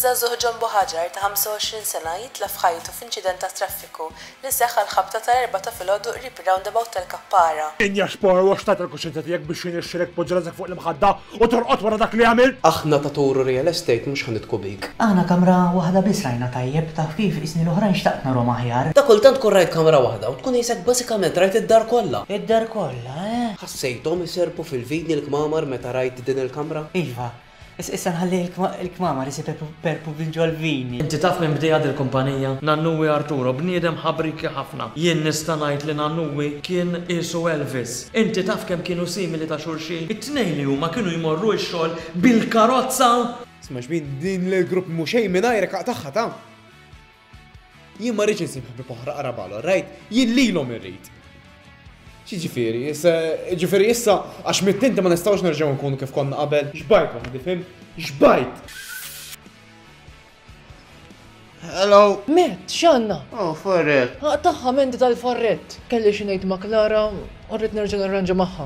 Żagħżugħ Jumbo Hajar ta' 25 sena jitlef ħajtu f'inċident tat-traffiku li seħħ għall-ħabta tal-Erbgħa ta' filgħodu qrib ir-roundabout tal-Kappara. Injah Spor u x'tat il-kuxjenza tiegħek biex jirnexxilek tpoġġi rasek fuq l-imħadda u torqod wara dak li għamilt? Aħna ta' Toro Real Estate mhux ħa nidhku bik. Aħna kamra waħda biss rajna tajjeb, taf kif, is-snin l-oħrajn xtaqt narhom aħjar. Ta' kultant tkun rajt kamra waħda u tkun qisek basikament rajt id-dar kollha. Id-dar kollha, eh? Sejthom iserrqu fil-vini l-kmamar meta rajt din il-kamra? Iva. Is, issa nħalli il-kmamar isiperrqu minn ġol-vini. Inti taf min bdieha dil-kumpanija? Nannuwi Arturo, bniedem ħabrieki ħafna. Jien nista' ngħid li Nannuwi kien qiesu Elvis. Inti taf kemm kienu simili ta' xulxin? It-tnejn li huma kienu jmorru x-xogħol bil-karozza! Sma' xbin, din l-grupp mhu xejn mingħajrek aqtagħha ta! Jien ma rridx insib ħbib oħra qara balo, rajt, jien lilhom irrid. Xiġifieri, ġifieri issa għax mittinti ma nistgħux nerġgħu nkunu kif konna qabel. Xbajt waħdi fim, xbajt! Hello! Met, xanna? Oh, farret. Aqtaħħa mendi tal-farret. Kelli xinejt ma' Klara, orrit nerġa' narranġa magħha.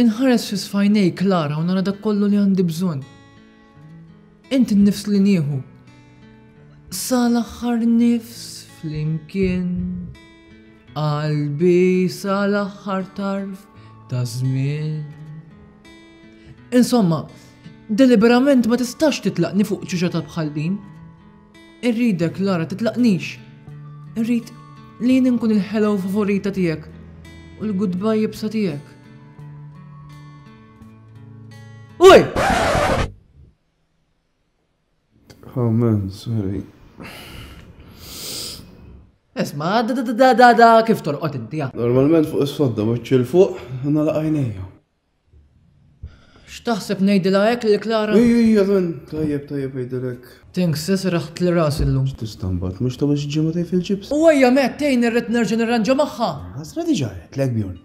Inħares fi sfajnej Klara u nara dak kollu li għandi bżonn. Int nifs li nieħu. Sal aħħar nifs flimkien. Qalbi sal aħħar tarf ta' żmien. Insomma, deliberament ma tistax titlaqni fuq ċiċa ta' bħallin. Irridek, Lara, titlaqnix! Irrid li jien inkun il-hello favorita tiegħek u l-goodbye jibsa tiegħek. Uj! Amen, sorry. Esma, da da da da da kif torqot inti? Normalment fuq is-sodda wiċċ il-fuq, nalaq għajnejja. X'taħseb ngħidilha hekk lil Klara? Ejja, ejja, Ron, tajjeb, tajjeb ngħidilha hekk. Thanks, se serraħtli rasi llum. X'tista' mbagħad, mhux tagħmel xi ġimgħatejn fil-ġibs? U ejja, Matt, tgħinni rrid nerġa' nirranġa magħha. Ħasra diġà għedtlek, Bjorn.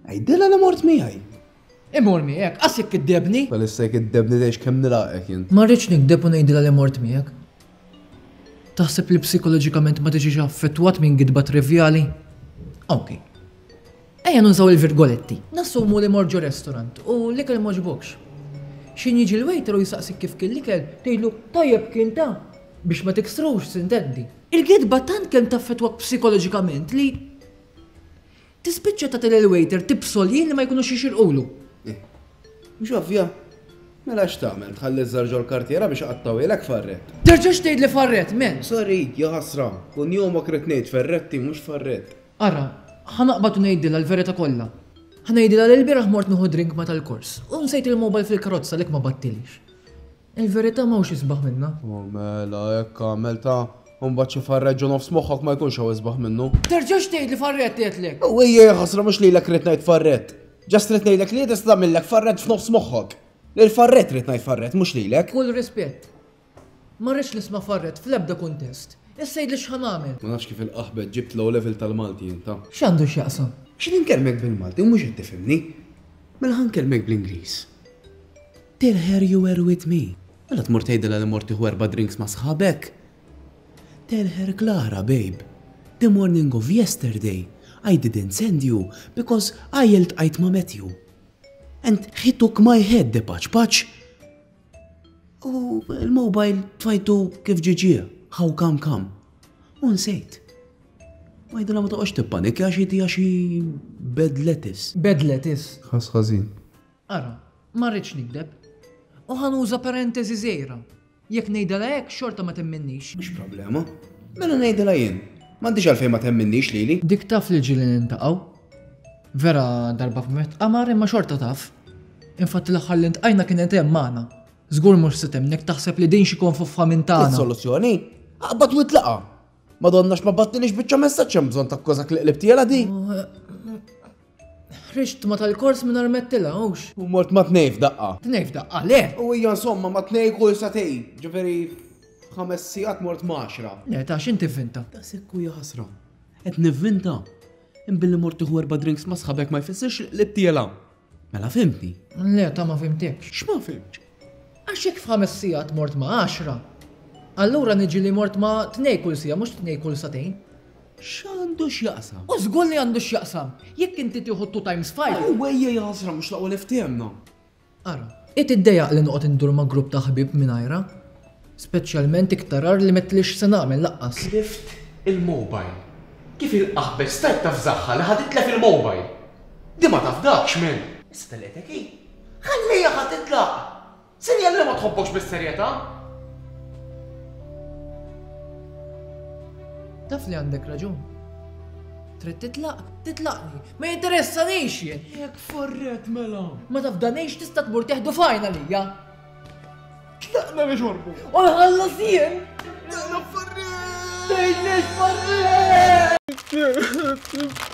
Għidilha li mort miegħi. Immur miegħek? Qas jekk kiddebni! Bħalissa jekk iddebni tgħix kemm nilaqgħek int. Ma rridx nikdeb u ngħidilha li mort miegħek. Taħseb li psikoloġikament ma tiġix affettwat minn gidba trivjali? Okej. Ejja nużaw il-virgoletti. Nassumu li mort ġo restorant u l-ikel m'għoġbokx. X'ħin jiġi l-waiter u jsaqsik kif kien l-ikel, tgħidlu, Tajjeb kien ta! Biex ma tiksrux, s'intendi. Il-gidba tant kemm taffettwak psikoloġikament li tispiċċa tagħti lill-waiter tibsolji li ma jkunux jixirqulu. Eh. Mhux ovvja? Mela x'tagħmel, tħalli ż-żar ġol-kartiera biex iqattgħuhielek Farrett? Terġax tgħidli Farrett, men! Sorry, jaħasra. Kunjomok ridt ngħid Ferretti, mhux Farrett. Ara, ħa naqbad u ngħidilha l-verità kollha. Ħa ngħidilha li lbieraħ mort nieħu drink ma' tal-kors, u nsejt il-mobile fil-karozza għalhekk ma bgħattilix. Il-verità m'hawnx isbaħ minnha. O mela, hekk agħmel ta'! U mbagħad xi farreġġ u nofs moħħok ma jkunx hawn isbaħ minnu. Terġax tgħidli farrett għedtlek! O ejja jaħasra mhux lilek ridt ngħid farrett. Just ridt ngħidlek li hi tista' tagħmillek farrett f'nofs moħħok. Lill-farrett ridt ngħid farrett, mhux lilek. B'kull rispett, Ma rridx nisma' farred fl-ebda kuntest. Issa għidli x'ħa nagħmel? Ma nafx kif il-qaħbet ġibt l-O Level tal-Malti inta. X'għandu x'jaqsam? Xi ninkellmek bil-Malti u mhux qed tifhimni? Mela ħa nkellmek bl-Ingliż. Tell her you were with me. Mela tmur tgħidilha li mort tieħu erba' drinks ma' sħabek. Tell her Klara babe, the morning of yesterday I didn't send you because I iltqajt ma' Matthew and he took my head the paċ-paċ. U l-mobile tfajtu kif ġiġie, how come come. U nsejt. Ma jidilha ma toqgħodx tippanik għax jitija xi bed lettuce. Bed lettuce. Ħass ħażin. Ara, ma rridx nikdeb. U ħa nuża parentesi żgħira. Jekk ngħidilha hekk xorta ma temminnix. Mhux problema. Mela ngħidilha jien. M'għandix għalfejn ma temminnix lili. Dik taf li ġieli niltaqgħu. Vera darba f'met qamar imma xorta taf. Infatti l-aħħar li ntqajna kienet hemm magħna. Żgur mhux se temnek taħseb li din xi konfuffa minn tagħna. Soluzzjoni? Aqbad u tlaqa. Madonna x'ma battilix biċċa messaġġ hemm bżonn takkużak li qlibt jela di. Ħriġt ma tal-kors minn armettila, hux. U mort ma tnej f'daqqa. Tnej f'daqqa, le. U hija insomma ma tnej kull satej, ġifieri ħames sigħat mort maċra. Le, ta' x'inti vinta? Ta' sekku jaħasra. Qed nivvinta. Imma billi mort tieħu erba' drinks ma' sħabek ma jfissirx li btiela'. Mela fhimtni? Le, ta' ma fhimtekx. X'ma fhimtx? Għax jekk f'ħames sigħat mort ma' għaxra, allura niġi li mort ma' tnej kull siegħa mhux tnej kull sagħtejn. X'għandu x'jaqsam? O żgur li għandu x'jaqsam! Jekk inti tieħu two times five. Aww ejja jaħasra mhux l-aqwa li fthemna. Ara, hi tiddejjaq li noqgħod indur ma' grupp ta' ħbieb mingħajrha. Speċjalment iktar agħar li m'għedtlix x'senagħmel laqqas. Tlift il-mobile. Kif il-qaħbes stajt taf żagħha li ħa titlef il-mobile? Di ma tafdakx, men! Issa telqetek hi. Ħallieha ħa titlaq! Sinjal li ma tħobbokx bis-serjetà! Taf li għandek raġun. Trid titlaq? Titlaqni. Ma jinteressanix jien. Jekk forret mela. Ma tafdanix tista' tmur teħdu fajn għalija. Tlaqna li xorbu. U nħallas jien. Tlaqna forret. Tejnex forret. Mm-hmm.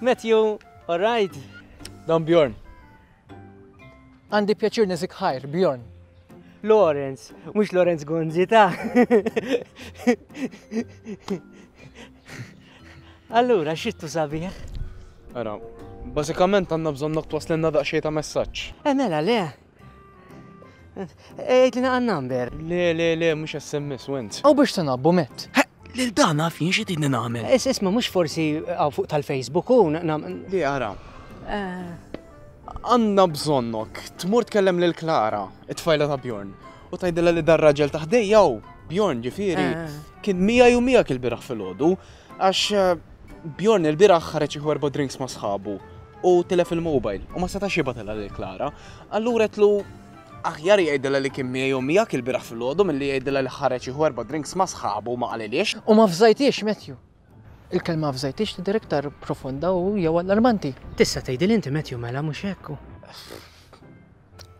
Matthew, all right? Don Bjorn, Għandi pjaċir niżik ħajr, Bjorn. Lawrence, mhux Lawrence Gonzi ta'. Allura, xittu sabiħ? Ara, bażikament għandna bżonn noktwas l-inna daqxej ta' messaġġ. Emela, eh, le, Ejt li naqan number. Le, le, le, mux SMS, went. Aw biex tanabbu met. Lil dan naf jien xi tidni nagħmel. Is isma mhux forsi għaw fuq tal-Facebook u Li ara. Għandna bżonnok, tmur tkellem lil Klara, it-tfajla ta' Bjorn, u tgħidilha li dar raġel ta' ħdejja u Bjorn ġifieri kien mija u miegħek il-biraħ filgħodu għax Bjorn il-biraħ ħareġ jieħu erba' drinks ma' sħabu u tilef il-mobile u ma setax jibatilha lil Klara. Allura tlu aħjar jgħidilha li kien miegħi u miegħek il-bieraħ filgħodu milli jgħidilha li ħareġ jieħu erba' drinks ma' sħabu u ma qalilhiex. U ma fżajthiex, Matthew. Il-kelma fżajthiex tidher iktar profonda u jew allarmanti. Tista' tgħidilha inti Matthew mela, mhux hekk?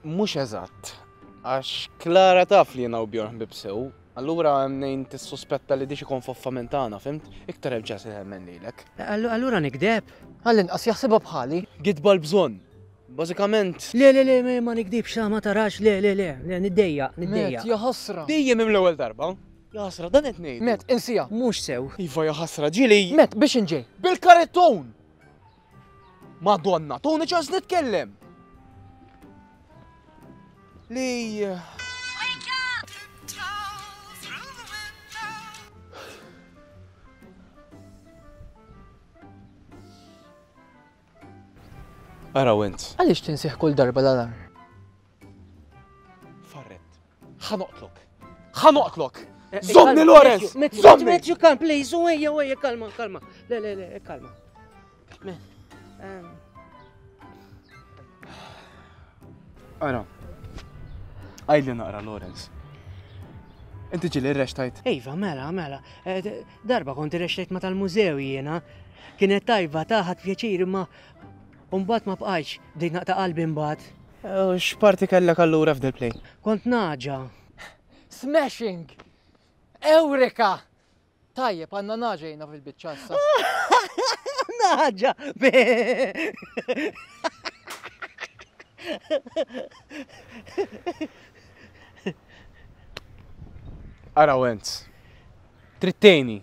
Mhux eżatt. Għax Klara taf li jiena u Bjorn ħbieb sew. Allura hemm mnejn tissuspetta li dix ikun foffa minn tagħna, fhimt? Iktar hemm ċans li temmen lilek. Allura nikdeb? Għall-inqas jaħsibha bħali. Gidba l-bżonn. Bażikament. Le, le, le, ma nikdibx, ma tarax, le, le, le, le, niddejjaq, niddejjaq. Matt, jaħasra! Dejjem hemm l-ewwel darba. Jaħasra, dan qed ngħidu. Matt, insieha. Mhux sew. Iva, jaħasra, ġieli. Matt, biex inġej. Bil-karettun! Madonna, tuni ċans nitkellem! Li. Ara went. Għaliex tinsih kull darba l-alarm? Farret. Ħa noqtlok. Ħa noqtlok. Eh, eh, Zomni Lorenz! Zomni! Matthew, come, please, u ejja, u ejja, kalma, kalma. Le, le, le, kalma. Ara, għajli naqra Lorenz. Inti ġili rrextajt? Iva, mela, mela. Eh, darba konti rrextajt ma tal-mużew jiena. Kienet tajba taħat pjaċir ma U mbagħad ma bqajtx, bdejt naqta' qalbi mbagħad. U x'parti kellek allura f'dil-play? Kont nagħġa. Smashing! Ewreka! Tajjeb, għandna nagħġa jiena fil-biċċa issa. Nagħġa! Ara Wenz, trittejni.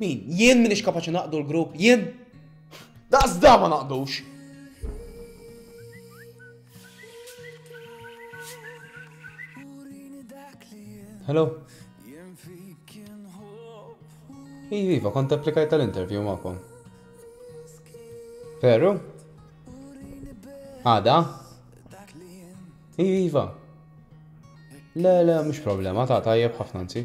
Min? Jien minix kapaċi naqdu l-grupp? Jien? Daqs da ma naqdux! Hello? Iva, iva, kont applikaj tal-interview ma'kom. Veru? Għada? Iva, iva. Le, le, mux problema, ta' tajjeb ħafna nsi.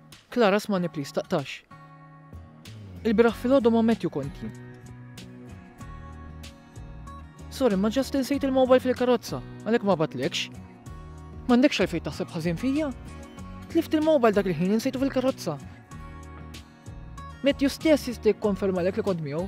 Clara smani please taqtax. Il-bieraħ filgħodu ma Matthew konti. Sorry ma ġast insejt il-mobile fil-karozza, għalhekk ma batlekx. M'għandekx għalfejn taħseb ħażin fija? Tlift il-mobile dak il-ħin insejtu fil-karozza. Matthew stess jista' jikkonfermalek li kont miegħu.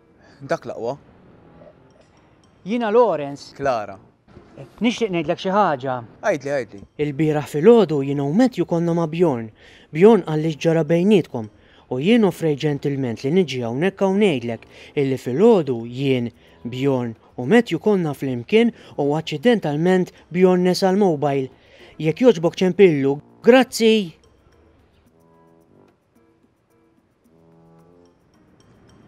Dak l-aqwa. Jiena Lawrence. Clara. Nixtieq ngħidlek xi ħaġa. Għidli, għidli. Ilbieraħ filgħodu jien u Matthew konna ma' Bjorn. Bjorn qalli x'ġara bejnietkom, u jien offrejt ġentilment li niġi hawnhekk hawn ngħidlek illi filgħodu jien, Bjorn, u Matthew konna flimkien u aċċidentalment Bjorn nesa l-mobile. Jekk jogħġbok ċempillu. Grazzi!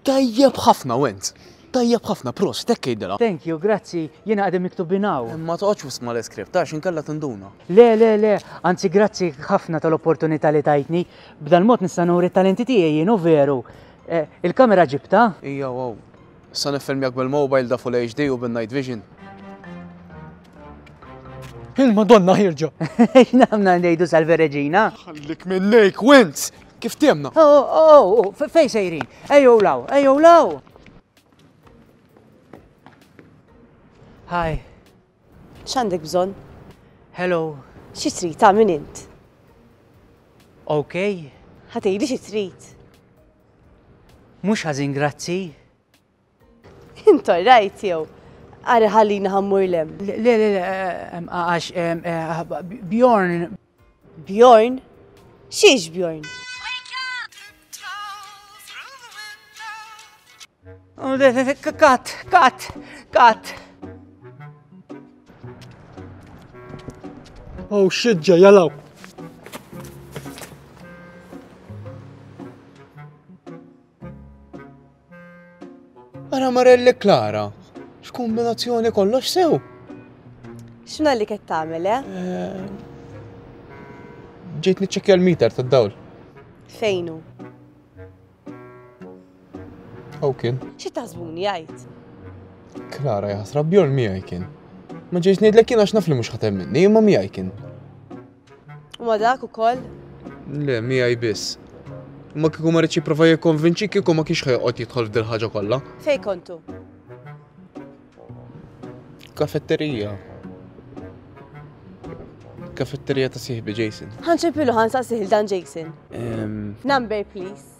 Tajjeb ħafna Wenz! Tajjeb ħafna, prost, hekk għidilha. Thank you, grazzi, jiena qegħdin miktubin hawn. Ma toqgħodx wisq mal-iskript għax inkella tinduna. Le, le, le, anzi grazzi ħafna tal-opportunità li tajtni. B'dal-mod nista' nuri t-talenti tiegħi jien, u veru. Il-kamera ġibtha? Hija hawn. Issa niffilmjak bil-mobile da full HD u bin night vision. Il-Madonna ħirġa. X'namna ngħidu salve Reġina? Ħallik minn lejk, Wentz! Kif tiemna? Oh, oh, oh, oh fej sejrin? Ejjew law, ejjew law! Hi. X'għandek bżonn? Hello. Xi trid, ta' min int? Okay. Ħa tgħidli xi trid. Mhux ħażin grazzi. Int orrajt jew? Ara ħallina ħammur lem. Le, le, le, għax Bjorn. Bjorn? Xiex Bjorn? Kat, kat, kat. Oh shit, ġej, jalaw. Ara Marelli Klara, x'kombinazzjoni kollox sew? X'na li qed tagħmel, eh? eh ġejt niċċekkja l-meter tad-dawl. Fejnu? Aw kien. Xi tażbuni jgħid? Klara jaħsra bjol miegħi kien. Ma ġejx ngħidlek kien għax naf li mhux ħatem minni, imma miegħi kien. U ma dak ukoll? Le, miegħi biss. Ma kieku ma rridx jipprova jikkonvinċi kieku ma kienx ħejqod jidħol f'dil ħaġa kollha. Fej kontu? Kafetterija. Kafetterija ta' siħbi Jason. Ħanċepilu ħan sa' siħil dan Jason. Number please.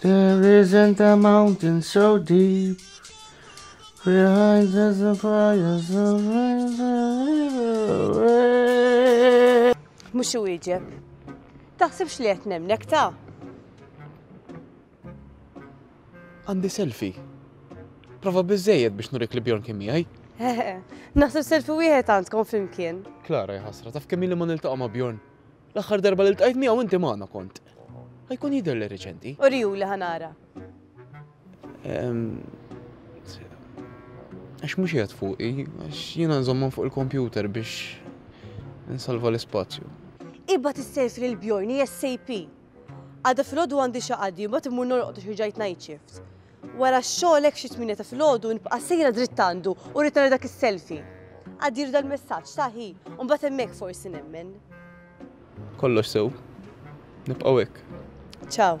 There isn't a mountain so deep behind the fires of Mux iwieġeb. Taħsibx li qed nemnek ta' Għandi selfie. Prova bizzejed biex nurik li Bjorn kien miegħi. Naħseb selfie wieħed għandkom flimkien. Klara jħasra, taf kemm li ma niltaqa' ma' Bjorn. L-aħħar darba li ltqajt miegħu inti magħna kont. Ħajkun jidher li reċenti. U riju li ħanara. Għax mhux qiegħed fuqi, għax jiena nżommhom fuq il-kompjuter biex nsalva l-ispazju. Iba tissejf lil Bjorn, SAP. Għada fil-ħodu għandi xaqadi, ma timmur norqod xi ġajt night shift. Wara x-xogħol hekk xi tmienja ta' filgħodu nibqa' sejra dritt għandu u rrid nara dak is-selfie. Għaddilu dal-messaġġ, ta' hi, u mbagħad hemmhekk forsi nemmen. Kollox sew. Nibqgħu hekk. Ciao.